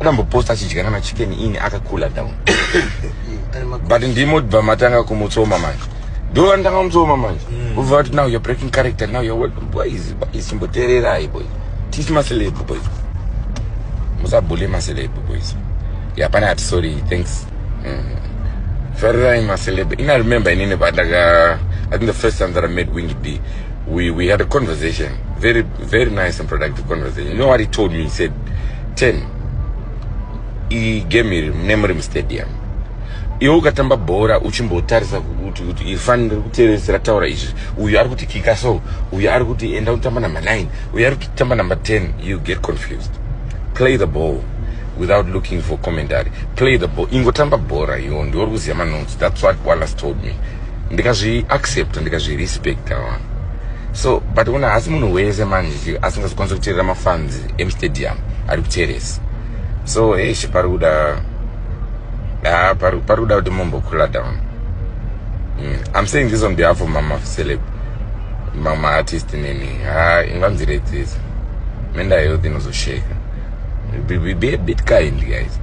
akamboposta achidya kana chicken ini akakula down but ndimo bva matanga kumutsoma manje ndo vandanga kumutsoma manje mm. ubva vati now you're breaking character now you're welcome boys boys imbotererai boys tisi maceleb boys musabhule maceleb boys ya pane ati sorry thanks mm. farirai maceleb ina remember inini pandaka i think the first time that i made wingi d we, we had a conversation very Very nice and productive conversation. You know what he told me? He said, Ten, he gave me Nemrim Stadium. iwe ukatamba bhora uchimbotarisa kuti kuti ifani riri kuteresi rataura izvi uyu ari kuti kika so uyu ari kuti enda unotamba number nine uyu ari kutitamba number ten you get confused play the ball without looking for commentary play the ball ingotamba bhora iwo ndiwo ri kuziva manonzi that's what wallace told me ndikazvi accept ndikazvi respect awa so but una hasi munhu wese manje asingazokwanisa kuteerera mafans emustadium ari kuteresa so eish pari kuda ah, pari kuda kuti mumbokhula down mm. i'm saying this on behalf of mama celeb mama artist nini ha ah, inganziredzisa mental health inozosheka be, be, be a bit kind guys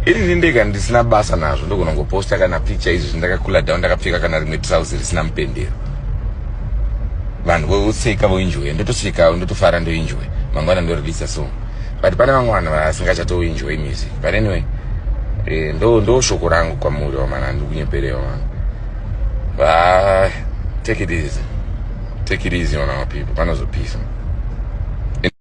ini ini ndega ndisina basa nazvo ndogona ngoposta kana picture izvi zvindakakula down ndakapfeka kana rimwe trouse risina mupendero vanhu voseka voenjoya ndotosekawo ndotofara ndoenjoya mangwana ndoreleasa song but pane vamwe vanhu vasingachatoenjoy music but anyway eh, ndo ndo shoko rangu kwamuri wamana handikunyeperewa mwana va take it easy take it easy ona mapeople panozopisa